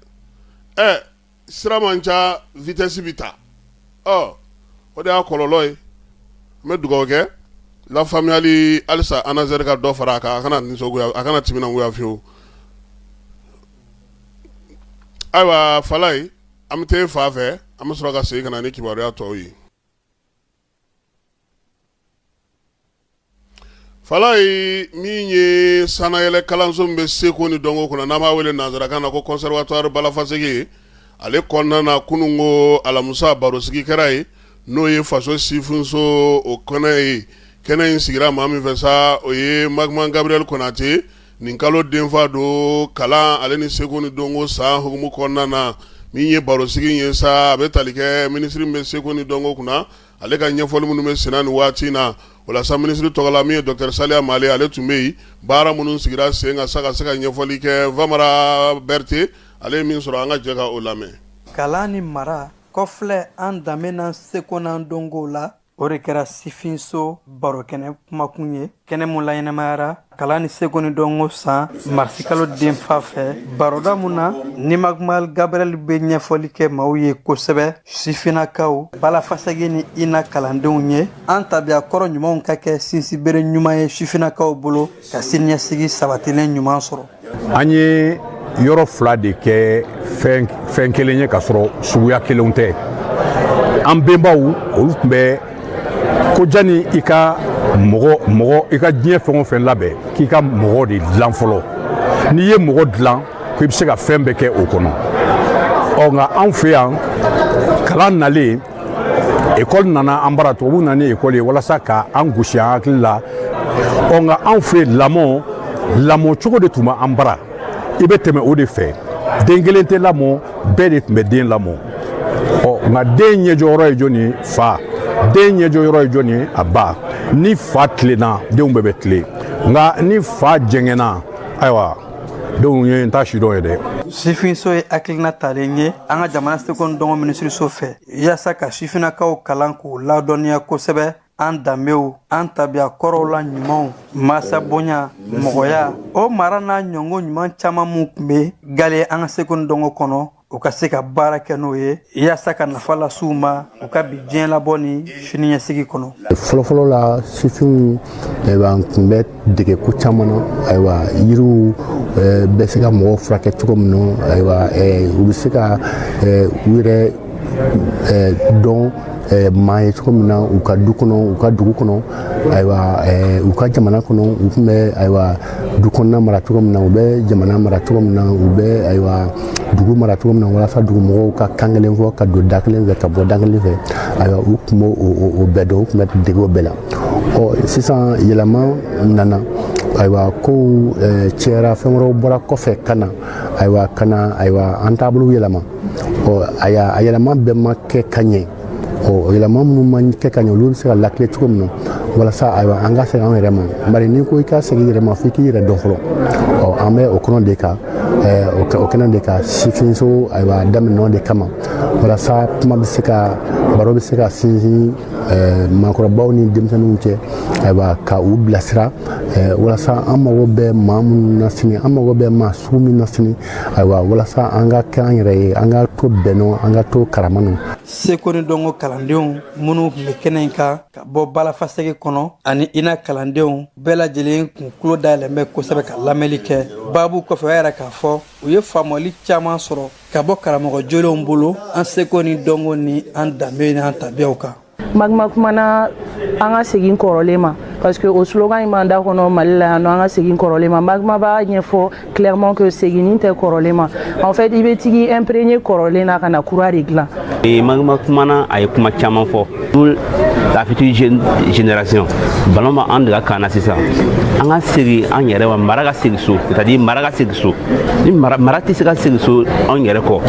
ɛ sira man ca vitesse bɛ ta ɔ o de y'a kɔlɔlɔ ye n bɛ dugawu kɛ lafaamuyali halisa ANASER ka dɔ fara a kan a kana nisɔngoya a kana timinangoya fiyewu ayiwa Falaye an bɛ taa i fa fɛ an bɛ sɔrɔ ka segin ka na ni kibaruya tɔw ye Falaye min ye sanayɛlɛ kalanso min bɛ seko ni dɔnko kunna n'an b'a wele nanzarakan na ko conservatoire Bala Faseke ale kɔnɔna na kunun ko alamisa barosigi kɛra yen n'o ye faso sifinso o kɛnɛ ye kɛnɛ in sigira maa min fɛ sa o ye Magma Gabriel Konate nin kalo denfa don kalan ale ni seko ni dɔnko san hukumu kɔnɔna na min ye barosigi ye sa a bɛ tali kɛ minisiri min bɛ seko ni dɔnko kunna ale ka ɲɛfɔli minnu bɛ senna nin waati in na o la sa minisiri tɔgɔ la min ye docteur Saliya Male ale tun bɛ yen baara minnu sigira sen kan sa ka se ka ɲɛfɔli kɛ Vamara Berete ale ye min sɔrɔ an ka jɛ ka o lamɛn kalan ni mara kɔfilɛ an danbe n'an seko n'an dɔnko la o de kɛra sifinso barokɛnɛ kumakun ye kɛnɛ mun laɲɛnamayara kalan ni seko ni dɔnko san marisikalo denfa fɛ baroda mun na ni Magma Gabriel bɛ ɲɛfɔli kɛ maaw ye kosɛbɛ sifinnakaw Bala Faseke ni INA kalandenw ye an tabiya kɔrɔ ɲumanw ka kɛ sinsinbere ɲuman ye sifinnakaw bolo ka siniɲɛsigi sabatilen ɲuman sɔrɔ an ye yɔrɔ fila de kɛ fɛn kelen ye k'a sɔrɔ suguya kelen tɛ an benbaw olu tun bɛ ko jani i ka mɔgɔ i ka diɲɛ fɛn o fɛn labɛn k'i ka mɔgɔ de dilan fɔlɔ n'i ye mɔgɔ dilan ko i bɛ se ka fɛn bɛɛ kɛ o kɔnɔ ɔ nka anw fɛ yan kalan nalen ekɔli nana an bara tubabu nana ni ekɔli ye walasa ka an gosi an hakili la ɔ nka anw fɛ yen lamɔ lamɔ cogo de tun bɛ an bara i bɛ tɛmɛ o de fɛ den kelen tɛ lamɔ bɛɛ de tun bɛ den lamɔ ɔ nka den ɲɛjɔyɔrɔ ye jɔni ye fa den ɲɛjɔyɔrɔ ye jɔni ye a ba ni fa tilenna denw bɛɛ bɛ tilen nka ni fa jɛngɛnna ayiwa denw ye n ta si dɔn ye dɛ sifinso ye hakilina talen ye an ka jamana seko ni dɔnko minisiriso fɛ yaasa ka sifinnakaw kalan k'u ladɔnniya kosɛbɛ an danbew an tabiya kɔrɔw la ɲumanw masa bonya mɔgɔya o mara n'a ɲɔgɔn ɲuman caman minw tun bɛ galen an ka seko ni dɔnko kɔnɔ u ka se ka baara kɛ n'o ye yaasa ka nafa las'u ma u ka bi diɲɛ labɔ ni siniɲɛsigi kɔnɔ fɔlɔfɔlɔ la sifinw ayiwa tun bɛ dege ko caman na ayiwa yiriw eh, bɛ se ka mɔgɔw furakɛ cogo min na ayiwa eh, u bɛ se ka eh, u yɛrɛ dɔn Eh, maa ye cogo min na u ka du kɔnɔ u ka dugu kɔnɔ ayiwa eh, u ka jamana kɔnɔ u tun bɛ ayiwa du kɔnɔna mara cogo min na u bɛ jamana mara cogo min na u bɛ ayiwa dugu mara cogo min na walasa dugumɔgɔw ka kan kelen fɔ ka don da kelen fɛ ka bɔ da kelen fɛ ayiwa u tun b'o o bɛɛ dɔn u tun bɛ dege o bɛɛ la ɔ sisan yɛlɛma nana ayiwa kow eh, cɛyara fɛn wɛrɛw bɔra kɔfɛ ka na ayiwa ka na ayiwa an taabolo yɛlɛma ɔ a yɛlɛma bɛɛ ma kɛ ka ɲɛ ɔ yɛlɛma minnu ma kɛ ka ɲɛ olu bɛ se ka latilen cogo min na walasa ayiwa an ka segin an yɛrɛ ma bari n'i ko i ka segin i yɛrɛ ma f'i k'i yɛrɛ dɔn fɔlɔ ɔ an bɛ o kɔnɔ de kan o kɛnɛ de kan sifinso ayiwa daminɛn'o de kama walasa kuma bɛ se ka baro bɛ se ka sinsin maakɔrɔbaw ni denmisɛnninw cɛ ayiwa ka u bilasira walasa an mago bɛ maa minnu na sini an mago bɛ maa sugu min na sini ayiwa walasa an ka kɛ an yɛrɛ ye an ka to bɛn nɔ an ka to karama nɔ seko ni dɔnko kalandenw minnu tun bɛ kɛnɛ in kan ka bɔ bala faseke kɔnɔ ani ina kalandenw bɛɛ lajɛlen kun tulo dayɛlɛlen bɛ kosɛbɛ ka lamɛnli kɛ baabu kɔfɛ u y'a yira k'a fɔ u ye faamuyali caman sɔrɔ ka bɔ karamɔgɔ jolenw bolo an seko ni dɔnko ni an danbe ni an tabiyaw kan magma kumana an ka segin kɔrɔlen ma parce que o slogan in b'an da kɔnɔ mali la yan nɔ an ka segin kɔrɔlen ma magma b'a ɲɛfɔ clairement que seginni tɛ kɔrɔlen ma en fait i bɛ tag'i imprégner kɔrɔlen na ka na kura de dilan e magma kumana a ye kuma caman fɔ pour la future génération ballon b'an de ka camp na sisan an ka segin an yɛrɛ ma mara ka segin so c'est à dire mara ka segin so ni mara mara tɛ se ka segin so anw yɛrɛ kɔ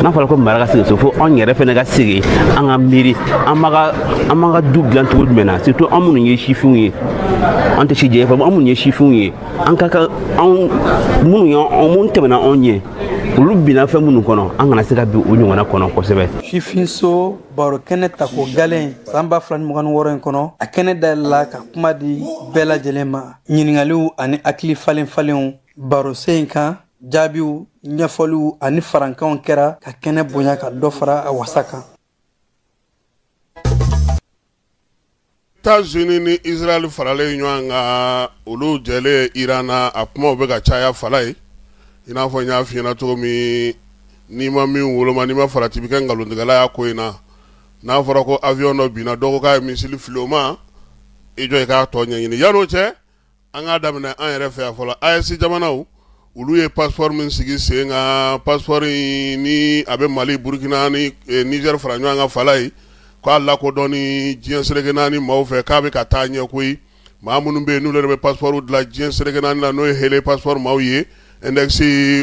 n'a fɔra ko mara ka segin so fo anw yɛrɛ fana ka segin an ka miiri an b'a ka an b'an ka du dilan cogo jumɛn na surtout an minnu ye sifinw ye an tɛ si jɛ fɔ an minnu ye sifinw ye an ka kan anw minnu ye anw minnu tɛmɛna anw ɲɛ olu binna fɛn minnu kɔnɔ an kana se ka bin o ɲɔgɔnna kɔnɔ kosɛbɛ sifinso baro kɛnɛ tako galen san ba fila ni mugan ni wɔɔrɔ in kɔnɔ a kɛnɛ dayɛlɛla ka kuma di bɛɛ lajɛlen ma ɲininkaliw ani hakili falen falenw barosen in kan jaabiw ɲɛfɔliw ani farankanw kɛra ka kɛnɛ bonya ka dɔ fara a wasa kan États-Unis ni Israël faralen ɲɔgɔn kan olu jɛlen Iran na a kumaw bɛ ka caya fala ye i n'a fɔ n y'a f'i ɲɛna cogo min n'i ma min woloma n'i ma farati bɛ kɛ nkalontigɛla y'a ko in na n'a fɔra ko avion dɔ binna dɔ ko k'a ye missile fili o ma i jɔ i k'a tɔ ɲɛɲini yan'o cɛ an k'a daminɛ an yɛrɛ fɛ yan fɔlɔ AES jamanaw olu ye passeport min sigi sen kan passeport nin a bɛ mali burukina ni Niger fara ɲɔgɔn kan fala ye k'a lakodɔnni diɲɛ seleke naani maaw fɛ k'a bɛ ka taa ɲɛ koyi maa minnu bɛ yen n'u yɛrɛ bɛ passeport dilan diɲɛ seleke naani na n'o ye Henley passeport maaw ye index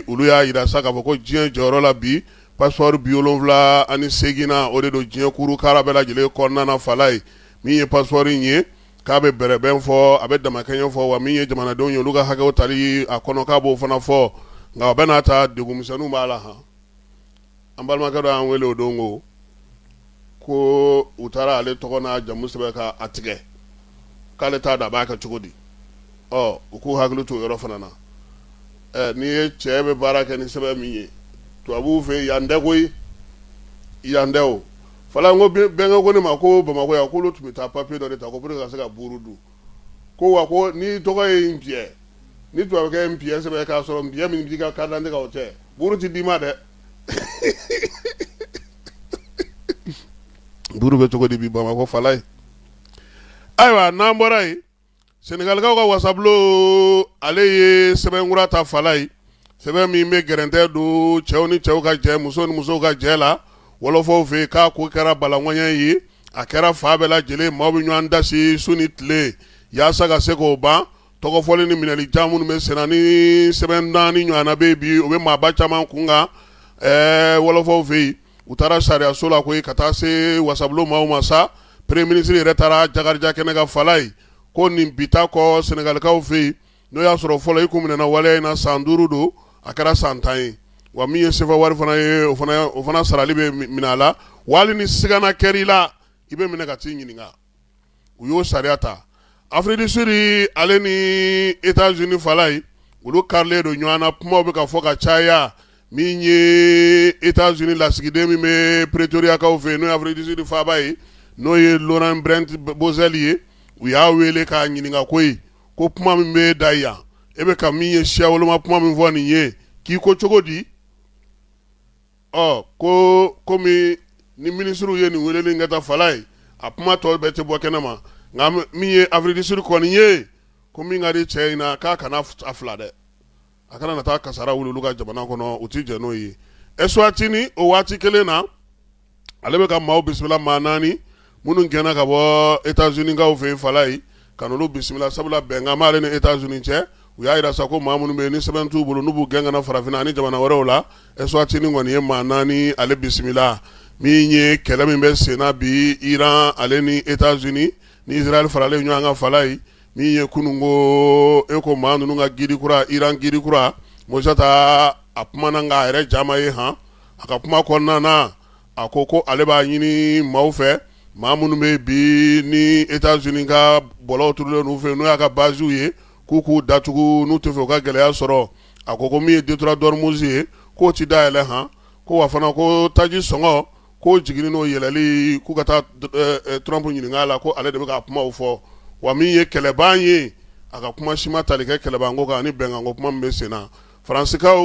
olu y'a yira sa k'a fɔ ko diɲɛ jɔyɔrɔ la bi passeport bi wolonwula ani seeginnan o de don diɲɛ kurukara bɛɛ lajɛlen kɔnɔna fala ye min ye passeport in ye K'a bɛ bɛrɛbɛn fɔ a bɛ damakɛɲɛ fɔ wa min ye jamanadenw ye olu ka hakɛw tali a kɔnɔ k'a b'o fana fɔ nka o bɛɛ n'a ta degun misɛnninw b'a la han an balimakɛ dɔ y'an wele o don ko u taara ale tɔgɔ n'a jamu sɛbɛn ka a tigɛ k'ale t'a dɔn a b'a kɛ cogo di ɔ u k'u hakili t'o yɔrɔ fana na ɛ n'i ye cɛ bɛ baara kɛ ni sɛbɛn min ye tubabuw fɛ yen yan tɛ koyi yan tɛ o Fala n ko bɛnkɛ ko ne ma ko bamakɔ yan k'olu tun bɛ taa papiye dɔ de ta ko pour que ka se ka buuru dun, ko wa ko n'i tɔgɔ ye Npiyɛ, ni tubabukɛ ye Npiyɛ sɛbɛn k'a sɔrɔ Npiyɛ min b'i ka carte d'identité kan o tɛ, buuru tɛ d'i ma dɛ. Buuru bɛ cogo di bi bamakɔ fala ye. Ayiwa n'an bɔra yen Senegalikaw ka wasabulon ale ye sɛbɛnkura ta fala ye sɛbɛn min bɛ gɛrɛntɛ don cɛw ni cɛw ka jɛ musow ni musow ka jɛ la wɔlɔfɔw fɛ yen k'a ko kɛra balakɔɲɔɔn ye a kɛra fa bɛɛ lajɛlen maaw bɛ ɲɔgɔn dasi su ni tile yaasa ka se k'o ban tɔgɔfɔli ni minɛli caman minnu bɛ senna ni sɛbɛn naani ɲɔgɔnna bɛ bi o bɛ maaba caman kunkan wɔlɔfɔw fɛ yen u taara sariyaso la koyi ka taa se wasabulon maaw ma sa premier ministre yɛrɛ taara Jakarija kɛnɛ kan fala ye ko nin bi ta kɔ sɛnɛgalikaw fɛ yen n'o y'a sɔrɔ fɔlɔ i kun minɛna waleya in na san duuru don a kɛra san tan ye wa min ye sefa wari fana ye o fana sarali bɛ minɛ a la wali ni sigana kɛr'i la i bɛ minɛ ka t'i ɲininka u y'o sariya ta Afrique du Sud ale ni États-Unis fala ye olu karilen don ɲɔgɔn na kumaw bɛ ka fɔ ka caya min ye États-Unis lasigiden min bɛ Pretoriakaw fɛ n'o ye Afrique du Sud faaba ye n'o ye Laurent Brent Bozell ye u y'a wele k'a ɲininka koyi ko kuma min bɛ da yan e bɛ ka min ye siya woloma kuma min fɔ nin ye k'i ko cogo di ɔ ko komi ni minisiriw ye nin weleli kɛ ta fala ye a kuma tɔ bɛɛ tɛ bɔ kɛnɛ ma nka min ye Afrique du Sud kɔni ye ko min ka di cɛ in na k'a kana a fila dɛ a kana na taa kasara wuli olu ka jamana kɔnɔ u tɛ jɛn n'o ye Eswatini o waati kelen na ale bɛ ka maaw bisimila maa naani minnu gɛnna ka bɔ États-Unis kaw fɛ yen fala ye ka n'olu bisimila sabula bɛnkan b'ale ni États-Unis cɛ u y'a jira sa ko maa minnu bɛ yen ni sɛbɛn t'u bolo n'u b'u gɛn ka na farafinna ani jamana wɛrɛw la Eswatini kɔni ye maa naani ale bisimila min ye kɛlɛ min bɛ senna bi Iran ale ni États-Unis ni Israël faralen ɲɔgɔn kan fala ye min ye kunun ko ye ko maa ninnu ka guide kura Iran guide kura Mojtaba kumana nka a yɛrɛ ja ma ye han a ka kuma kɔnɔna a ko ko ale b'a ɲini maaw fɛ maa minnu bɛ bi ni États-Unis ka bɔlɔw turulen fɛ n'o y'a ka baziw ye k'u k'u datugu n'u tɛ fɛ u ka gɛlɛya sɔrɔ a ko ko min ye détroit d'Ormuz ye k'o tɛ dayɛlɛ han ko wa fana ko taji sɔngɔ ko jiginni n'o yɛlɛli k'u ka taa Trump ɲininka la ko ale de bɛ ka kuma fɔ wa min ye kɛlɛban ye a ka kuma si ma tali kɛ kɛlɛbanko kan ani bɛnkanko kuma min bɛ sen na faransikaw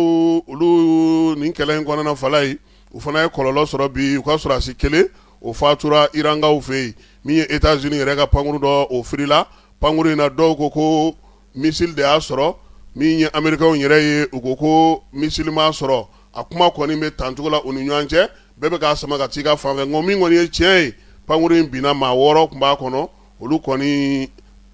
olu nin kɛlɛ in kɔnɔna fala ye u fana ye kɔlɔlɔ sɔrɔ bi u ka sɔrɔdasi kelen o fatura irankaw fɛ yen min ye États-Unis yɛrɛ ka pankurun dɔ o firila pankurun in na dɔw ko ko missile de y'a sɔrɔ min ye amerikɛnw yɛrɛ ye u ko ko missile m'a sɔrɔ a kuma kɔni bɛ tancogo la u ni ɲɔgɔn cɛ bɛɛ bɛ k'a sama ka taa i ka fanfɛ nka min kɔni ye tiɲɛ ye pankurun in binna maa wɔɔrɔ tun b'a kɔnɔ olu kɔni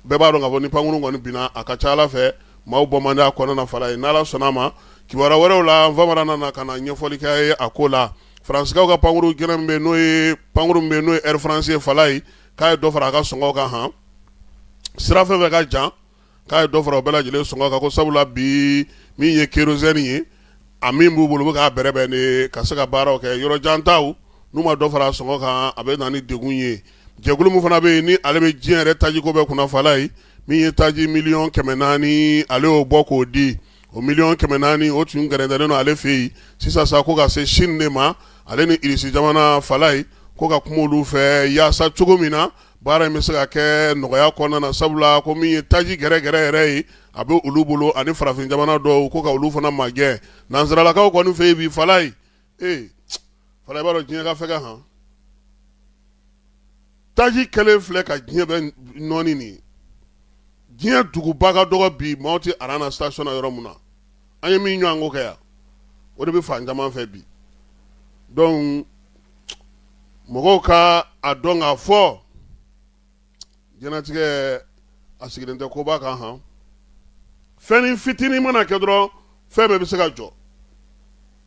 bɛɛ b'a dɔn k'a fɔ ni pankurun kɔni binna a ka ca a la fɛ maaw bɔ man di a kɔnɔna fala ye n'ala sɔnna a ma kibaru wɛrɛw la ni faama dɔ nana ka na ɲɛfɔli kɛ an ye a ko la faransikaw ka pankurun g min bɛ n'o ye pankurun min bɛ n'o ye Air France ye fala ye k'a ye dɔ fara a ka sɔngɔw kan han sira fɛn fɛn ka jan k'a ye dɔ fara u bɛɛ lajɛlen sɔngɔ kan ko sabula bi min ye kérosène ye a min b'u bolo u bɛ k'a bɛrɛbɛn de ka se ka baaraw kɛ yɔrɔ jan taw n'u ma dɔ fara a sɔngɔ kan a bɛ na ni degun ye jɛkulu min fana bɛ yen ni ale bɛ diɲɛ yɛrɛ tajiko bɛɛ kunna fala ye min ye taji miliyɔn kɛmɛ naani ale y'o bɔ k'o di o miliyɔn kɛmɛ naani o tun gɛrɛntɛlen don ale fɛ yen sisan sa ko ka se Chine de ma ale ni Russie jamana fala ye ko ka kuma olu fɛ yaasa cogo min na baara in bɛ se ka kɛ nɔgɔya kɔnɔna na sabula ko min ye taji gɛrɛ gɛrɛ yɛrɛ ye a bɛ olu bolo ani farafin jamana dɔw ko ka olu fana magɛn nansaralakaw kɔni fɛ yen bi fala ye ee fala i b'a dɔn diɲɛ ka fɛgɛn han taji kelen filɛ ka diɲɛ bɛɛ nɔɔni nin diɲɛ duguba ka dɔgɔ bi maaw tɛ aran na station na yɔrɔ min na an ye min ɲɔgɔn ko kɛ yan o de bɛ fan caman fɛ bi donc mɔgɔw ka a dɔn k'a fɔ diɲɛnatigɛ a sigilen tɛ koba kan han fɛnnin fitinin mana kɛ dɔrɔn fɛn bɛɛ bɛ se ka jɔ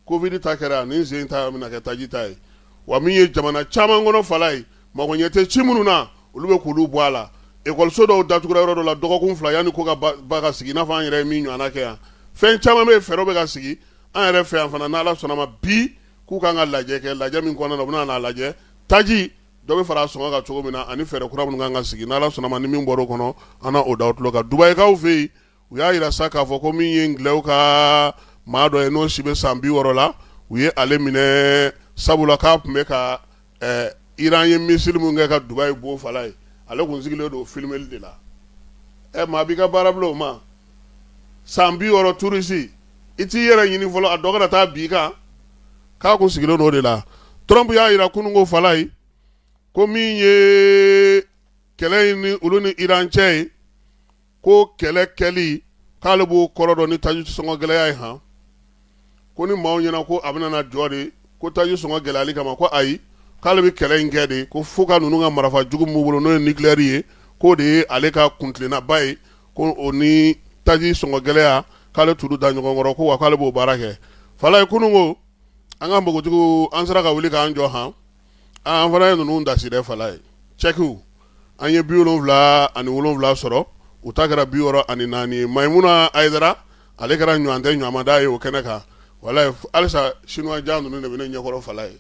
Kovidi ta kɛra nin sen ta bɛna kɛ taji ta ye wa min ye jamana caman kɔnɔ Falaye mago ɲɛ tɛ ci minnu na olu bɛ k'olu bɔ a la ekɔliso dɔw datugura yɔrɔ dɔ la dɔgɔkun fila yanni ko ka ba ka sigi i n'a fɔ an yɛrɛ ye min ɲɔgɔn kɛ yan fɛn caman bɛ yen fɛɛrɛw bɛ ka sigi an yɛrɛ fɛ yan fana n' ala sɔnna ma bi k'u ka kan ka lajɛ kɛ lajɛ min kɔnɔna na u bɛna a lajɛ taji dɔ bɛ fara a sɔngɔ kan cogo min na ani fɛɛrɛ kura minnu kan ka sigi n' ala sɔnna ma ni min bɔra o kɔnɔ an na o da aw tulo kan Dubayikaw fɛ yen u y'a jira sa k'a fɔ ko min ye Angilɛw ka maa dɔ ye n'o si bɛ san bi wɔɔrɔ la u ye ale minɛ sabula k'a tun bɛ ka iran ye misili min kɛ ka Dubayi bon Falaye ale kun sigilen don filimeli de la ɛ maa b'i ka baara bila o ma san bi wɔɔrɔ turisi i t'i yɛrɛ ɲini fɔlɔ a dɔ kana taa bin i kan k'a kun sigilen don o de la Trump y'a jira kunun ko Falaye ko min ye kɛlɛ in ni olu ni iran cɛ ye ko kɛlɛ kɛli k'ale b'o kɔrɔ dɔn ni taji sɔngɔ gɛlɛya ye han ko ni maaw ɲɛna ko a bɛna na jɔ de ko taji sɔngɔ gɛlɛyali kama ko ayi k'ale bɛ kɛlɛ in kɛ de ko fo ka ninnu ka marifa jugu min b'u bolo n'o ye nikileyɛri ye k'o de ye ale ka kuntilennaba ye ko o ni taji sɔngɔ gɛlɛya k'ale t'olu da ɲɔgɔn kɔrɔ ko wa k'ale b'o baara kɛ Falaye kunun ko an ka npogotigiw an sera ka wuli k'an jɔ han an fana ye ninnu dasi dɛ Falaye cɛkiw an ye bi wolonwula ani wolonwula sɔrɔ u ta kɛra bi wɔɔrɔ ani naani Mayimuna Ayidara ale kɛra ɲɔgɔn tɛ ɲamada ye o kɛnɛ kan walayi halisa sinuwa jan ninnu de bɛ ne ɲɛkɔrɔ Falaye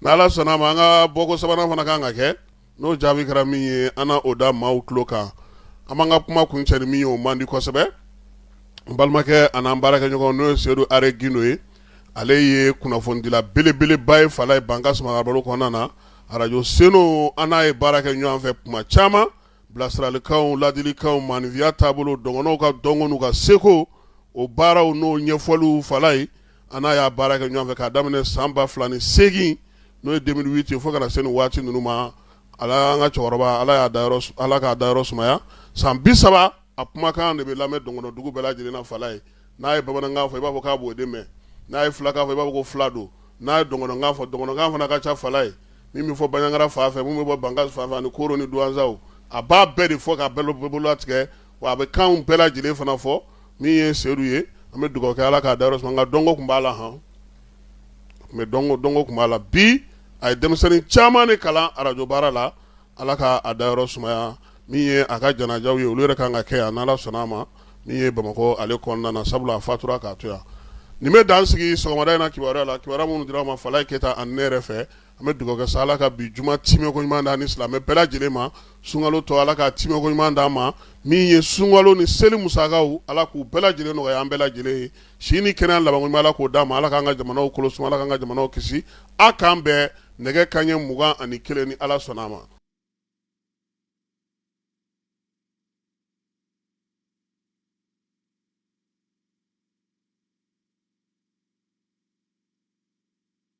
n' ala sɔnna a ma an ka bɔko sabanan fana kan ka kɛ n'o jaabi kɛra min ye an na o da maaw tulo kan an b'an ka kuma kuncɛ ni min ye o man di kosɛbɛ n balimakɛ ani an baarakɛɲɔgɔn n'o ye sedu are Gindo ye ale ye kunnafonidila belebeleba ye Falaye Bankasi marabolo kɔnɔna na arajo Seno an n'a ye baara kɛ ɲɔgɔn fɛ kuma caman bilasiralikanw ladilikanw maaninfinya taabolo dɔgɔnɔw ka dɔnko n'u ka seko o baaraw n'o ɲɛfɔliw Falaye an n'a y'a baara kɛ ɲɔgɔn fɛ k'a daminɛ san ba fila ni segin n'o ye deux mille huit ye fo ka na se nin waati ninnu ma ala an ka cɛkɔrɔba ala y'a da ala k'a dayɔrɔ sumaya san bi saba a kumakan de bɛ lamɛn dɔgɔnɔdugu bɛɛ lajɛlen na Falaye n'a ye bamanankan fɔ i b'a fɔ k'a b'o de mɛn n'a ye filakan fɔ i b'a fɔ ko fila don n'a ye dɔgɔnɔkan fɔ dɔgɔnɔkan fana ka ca Falaye min bɛ fɔ Banjagara fan fɛ min bɛ bɔ Bankasi fan fɛ ani Koro ni Duwanzaw a b'a bɛɛ de fɔ k'a bɛɛ bolo latigɛ wa a bɛ kan bɛɛ lajɛlen fana fɔ min ye sedu ye an bɛ dugawu kɛ ala k'a dayɔrɔ suma nka dɔnko tun b'a la han mɛ dɔnko tun b'a la bi a ye denmisɛnnin caman de kalan arajo baara la ala k'a dayɔrɔ sumaya min ye a ka janajaw ye olu yɛrɛ ka kan ka kɛ yan n' ala sɔnna a ma min ye bamakɔ ale kɔnɔna na sabula a fatura k'a to yan nin bɛ dan sigi sɔgɔmada in na kibaruya la kibaruya minnu dira aw ma Falaye Keyita ani ne yɛrɛ fɛ an bɛ dugawu kɛ sa ala ka bi juma timɛko ɲuman d'an ni silamɛ bɛɛ lajɛlen ma sunkalo tɔ ala k'a timɛko ɲuman d'an ma min ye sunkalo ni seli musakaw ala k'u bɛɛ lajɛlen nɔgɔya an bɛɛ lajɛlen ye si ni kɛnɛya labanko ɲuman ala k'o d'an ma ala k'an ka jamanaw kolo suma ala k'an ka jamanaw kisi a k'an bɛn nɛgɛ kanɲɛ mugan ani kelen ni ala sɔnna a ma